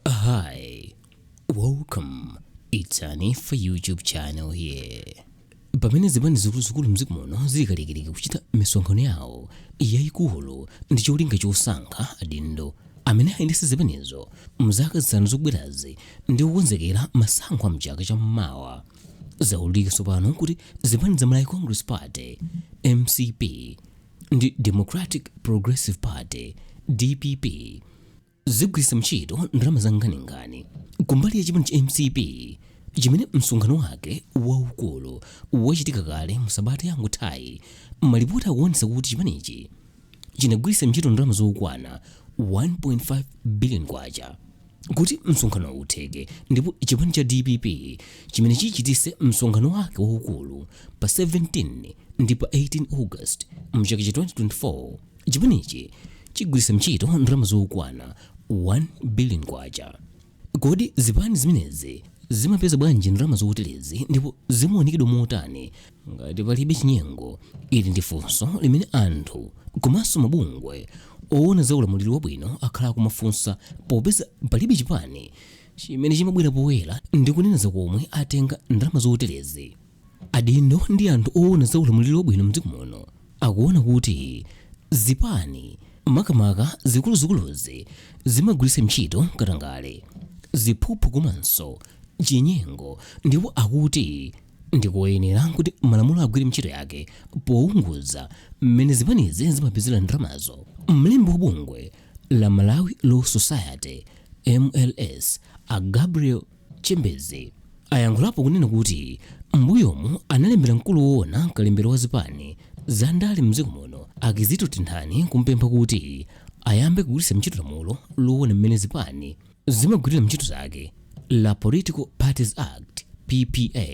Hi, welcome. It's an Ifa YouTube channel here. Pamene zipani zikuluzikulu mdziko muno zili kalikiliki kuchita misonkhano yawo yayikulu ndi cholinga chosankha adindo amene ayendetse zipanizo mzaka zisanu zikubwerazi ndi kukonzekera masankho a mchaka cha mmawa zaululika tsopano kuti zipani za Malawi Congress Party MCP ndi Democratic Progressive Party DPP zigwiritsa ntchito ndalama zankhaninkhani kumbali ya chipani cha mcp chimene msonkhano wake waukulu wachitika kale mu sabata yangothayi malipoti akuonetsa kuti chipanichi chinagwiritsa ntchito ndalama zokwana 1.5 billion kwacha kuti msonkhano utheke ndipo chipani cha dpp chimene chichitise msonkhano wake waukulu pa 17 ndi pa 18 august mchaka cha 2024 Chipanichi chigwiritsa ntchito ndalama zokwana 1 billion kwacha. Kodi zipani zimenezi zimapeza bwanji ndalama zoterezi ndipo zimaunikidwa motani ngati palibe chinyengo? Ili ndi funso limene anthu komanso mabungwe owona za ulamuliro wabwino akhala akumafunsa popeza palibe chipani chimene chimabwera poyera ndi kunena za komwe atenga ndalama zoterezi. Adindo ndi anthu oona za ulamuliro wabwino mdziko muno akuona kuti zipani makamaka zikuluzikuluzi zimagwiritsa ntchito katangale, ziphuphu komanso chinyengo ndipo akuti ndi koyenera kuti malamulo agwire ntchito yake pounguza mmene zipanizi zimapezera ndalamazo. Mlembi wa bungwe la Malawi Law Society, mls, a Gabriel. Chembezi ayankhulapo kunena kuti m'mbuyomu analembera mkulu woona kalembera wa zipani za ndale mdziko muno a Kizito Tenthani kumpempha kuti ayambe kugwiritsa ntchito lamulo loona mmene zipani zimagwirira ntchito zake la Political Parties Act, PPA.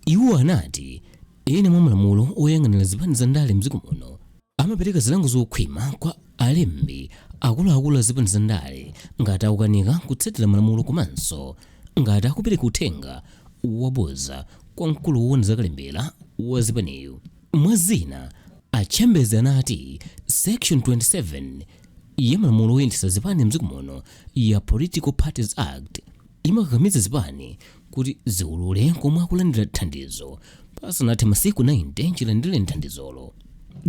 Iwo anati ena mwa malamulo oyang'anira zipani za ndale mdziko muno Amapereka zilango zokhwima kwa alembi akuluakulu a zipani za ndale ngati akukanika kutsatira malamulo komanso ngati akupereka uthenga wabodza kwa mkulu woona za kalembera wa zipaniyu. Mwa zina, a Chembezi anati Section 27 ya malamulo oyendetsa zipani m'dziko muno ya Political Parties Act, imakakamiza zipani kuti ziulule komwe akulandira thandizo pasanathe masiku 90 chilandire thandizolo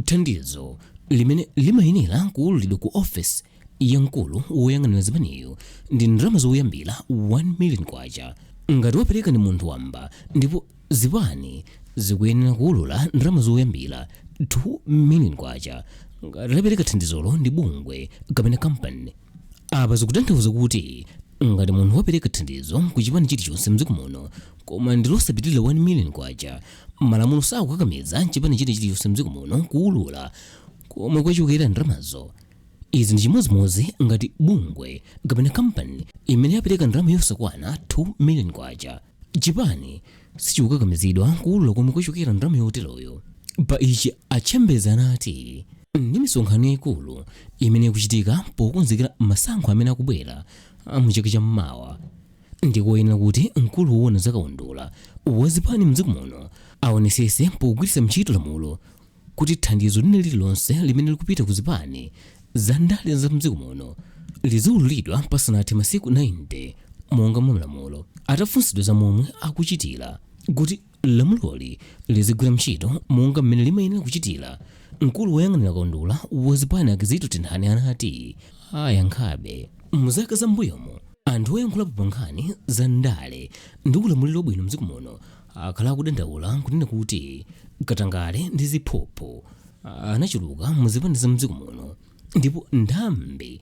thandizo limene limayenera kuululidwa ku ofesi ya mkulu woyang'anira zipaniyo ndi ndalama zoyambira 1 million kwacha ngati wapereka ndi munthu wamba ndipo zipani zikuyenera kuulula ndalama zoyambira 2 million kwacha ngati lapereka thandizolo ndi bungwe kapena kampani apa zikutanthauza kuti ngati munthu wapereka thandizo ku chipani chilichonse mdziko muno koma ndi losapitirira 1 million kwacha malamulo sakukakamiza chipani china chilichonse mdziko muno kuulula komwe kwachokera ndalamazo izi ndi chimodzimodzi ngati bungwe kapena kampani imene yapereka ndalama yosakwana 2 million kwacha chipani sichikukakamizidwa kuulula komwe kwachokera ndalama yoteroyo pa ichi a Chembezi anati ndi misonkhano yayikulu imene ikuchitika pokonzekera masankho amene akubwera mu chaka cha mmawa ndikoyenera kuti mkulu woona zakaundula wazipani mdziko muno aonesese pogwiritsa ntchito lamulo kuti thandizo lina lililonse limene likupita ku zipani za ndale za mdziko muno liziwululidwa pasanathe masiku 90 monga mwa malamulo. Atafunsidwa za momwe akuchitira kuti lamuloli lizigwira ntchito monga mmene limayenera kuchitira, mkulu woyang'anira kaundula wa zipani a Kizito Tenthani anati ayankhabe. Mu zaka za m'mbuyomu anthu oyankhulapo pa nkhani za ndale ndi ulamuliro wabwino mdziko muno akhala akudandaula kunena kuti katangale ndi ziphuphu anachuluka muzipani za mdziko muno ndipo nthambi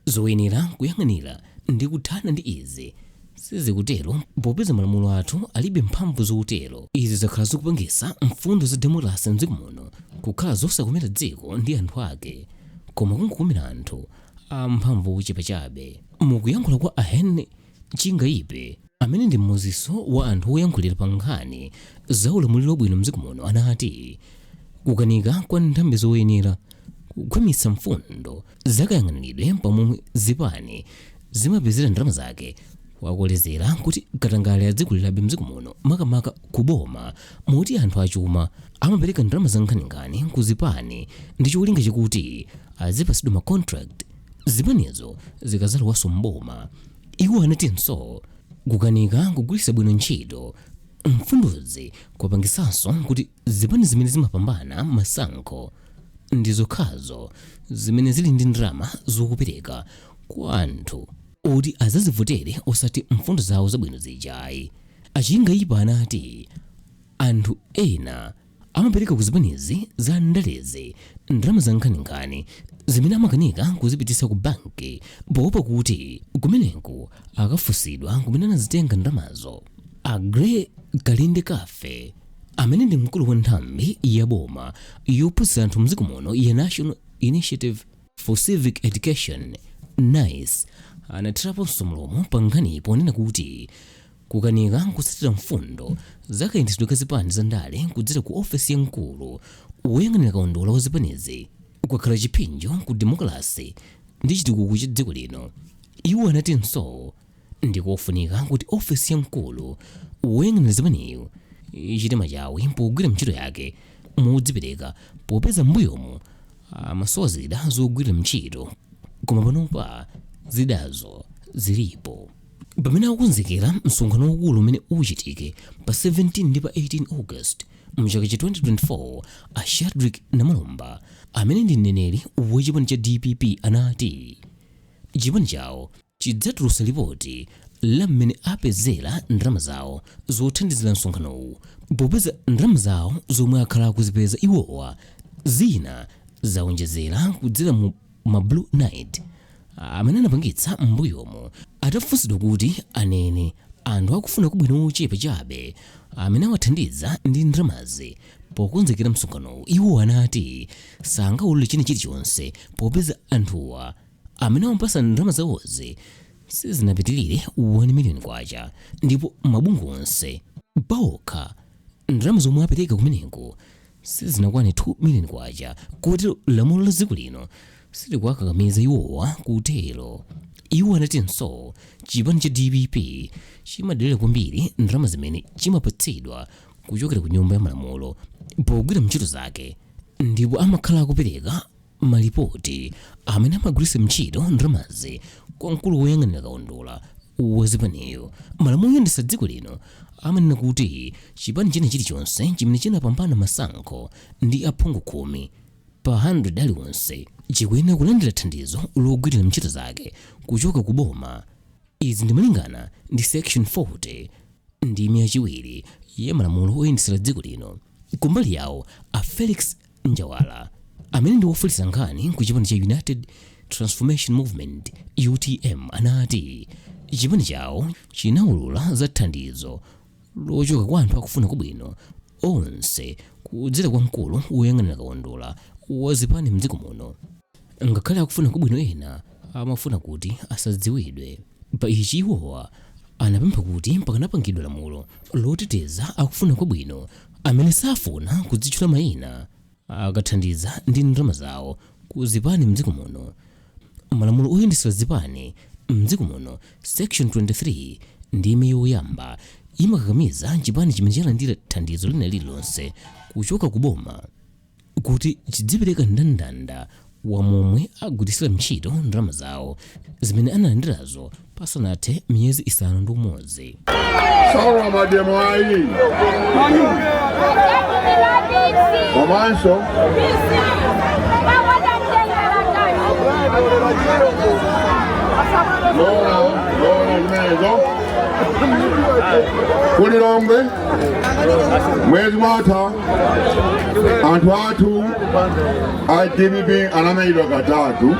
zoyenera kuyang'anira ndi kuthana ndi izi sizikutero popeza malamulo athu alibe mphamvu zotero izi zakhala zikupangisa mfundo za demokrasi mdziko muno kukhala zosakomera dziko ndi anthu ake koma kungokomera anthu amphamvu ochepa chabe mukuyankhula kwa a Henry Chingaipe, amene ndi mmodzinso wa anthu oyankhulira pa nkhani za ulamuliro wabwino mdziko muno anati kukanika kwa nthambi zoyenera kukhwimitsa mfundo za kayang'aniridwe pa momwe zipani zimapezera ndalama zake kwakolezera kuti katangale adzikulirabe mdziko muno makamaka ku boma moti anthu achuma amapereka ndalama za nkhaninkhani ku zipani ndi cholinga chakuti azipatsidwa ma contract Zipanizo zikadzalowanso m'boma, iwo anatinso kukanika kugwiritsa bwino ntchito mfundozi kwapangitsanso kuti zipani zimene zimapambana masankho ndi zokhazo zimene zili ndi ndalama zokupereka kwa anthu oti adzazivotere osati mfundo zawo zabwino zija ayi. A Chingaipe anati anthu ena amapereka ku zipanizi za ndalezi ndalama za nkhaninkhani zimene amakanika kuzipititsa ku banki poopa kuti kumeneko akafunsidwa kumene anazitenga ndalamazo a gray kalindekafe amene ndi mkulu wa nthambi ya boma yophunzitsa anthu mdziko muno ya national initiative for civic education nice anathiraponso mlomo pa nkhaniyi ponena kuti Kukanika kutsatira mfundo za kayendetsedwe ka zipani za ndale kudzera ku ofesi ya mkulu woyang'anira kaundula wa zipanizi kwakhala chipsinjo ku demokalase ndi chitukuko cha dziko lino. Iwo anatinso ndi kofunika kuti ofesi ya mkulu woyang'anira zipaniyu ichite machawi pogwira ntchito yake modzipereka popeza m'mbuyomu amasowa zida zogwirira ntchito koma panopa zidazo zilipo. pamene akukonzekera msonkhano waukulu umene uchitike pa 17 ndi pa 18 august mchaka cha 2024 a shadrick namalomba amene ndi mneneri wa chipani cha dpp anati chipani chawo chidzatulutsa lipoti la mmene apezera ndalama zawo zothandizira msonkhanowu popeza ndalama zawo zomwe akhala akuzipeza iwowa zina zawonjezera kudzera mu ma blue night amene anapangitsa m'mbuyomo atafunsidwa kuti anene anthu akufuna kwabwino ochepa chabe amene awathandiza ndi ndalamazi pokonzekera msonkhanowu iwo anati sangaulule china chilichonse popeza anthuwa amene awapatsa ndalama zawozi sizinapitirire 1 miliyoni kwacha ndipo mabungwe onse paokha ndalama zomwe apereka kumeneko sizinakwane 2 million kwacha kotero lamulo la dziko lino silikuwakakamiza iwowa kutero. Iwo anatinso chipani cha dpp chimadalira kwambiri ndalama zimene chimapatsidwa kuchokera ku Nyumba ya Malamulo pogwira ntchito zake ndipo amakhala akupereka Malipoti a mmene amagwiritsa ntchito ndalamazi kwa mkulu woyang'anira kaundula wa zipaniyu, malamulo oyendetsa dziko lino amanena kuti chipani china chilichonse chimene chinapambana masankho ndi aphungu khumi pa 100 aliwonse chikuyenera kulandira thandizo logwirira ntchito zake kuchoka ku boma. Izi ndi malingana ndi section 40 ndime yachiwiri ya malamulo oyendetsera dziko lino. Kumbali yawo, a Felix njawala amene ndi wofalitsa nkhani ku chipani cha united transformation movement utm anati chipani chawo chinawulula za thandizo lochoka kwa anthu akufuna kwabwino onse kudzera kwa mkulu woyang'anira kaundula wa zipani mdziko muno ngakhale akufuna kwabwino ena amafuna kuti asadziwidwe pa ichi iwowa anapempha kuti pakanapangidwa lamulo loteteza akufuna kwabwino amene safuna kudzitchula mayina akathandiza ndi ndalama zawo ku zipani mdziko muno malamulo oyendetsera zipani mdziko muno section 23 ndime yoyamba imakakamiza chipani chimene chalandira thandizo lina lililonse kuchoka ku boma kuti chidzipereka ndandanda wa momwe agwiritsira ntchito ndalama zawo zimene analandirazo pasanathe miyezi isanu ndi umodzi Sawa mademo ayi. Komanso lora lora imenezo ku Lilongwe mwezi mwatha anthu athu a DPP anamenyedwa katatu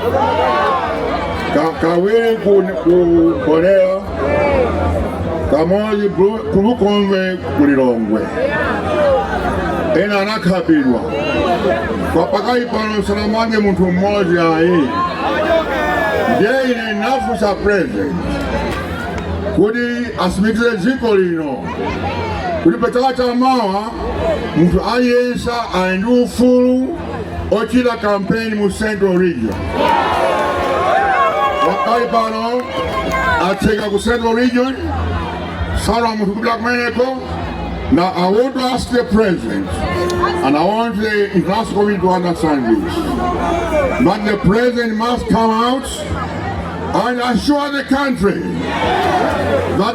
Ka- kawiri ku ku Mbowela kamodzi Bru- ku lukombe ku lilongwe ena anakhapidwa kwa pakali pano sanamange munthu m'modzi ayi ndiye ine nafunsa president kuti atsimikize dziko lino kuti pa chaka cha mawa munthu aliyense ali ndi ufulu ochita kampeni mu central region pakali pano atseka ku central region salola munthu kupita kumeneko now i want to ask the president and i want the international community to understand this that the president must come out and assure the country that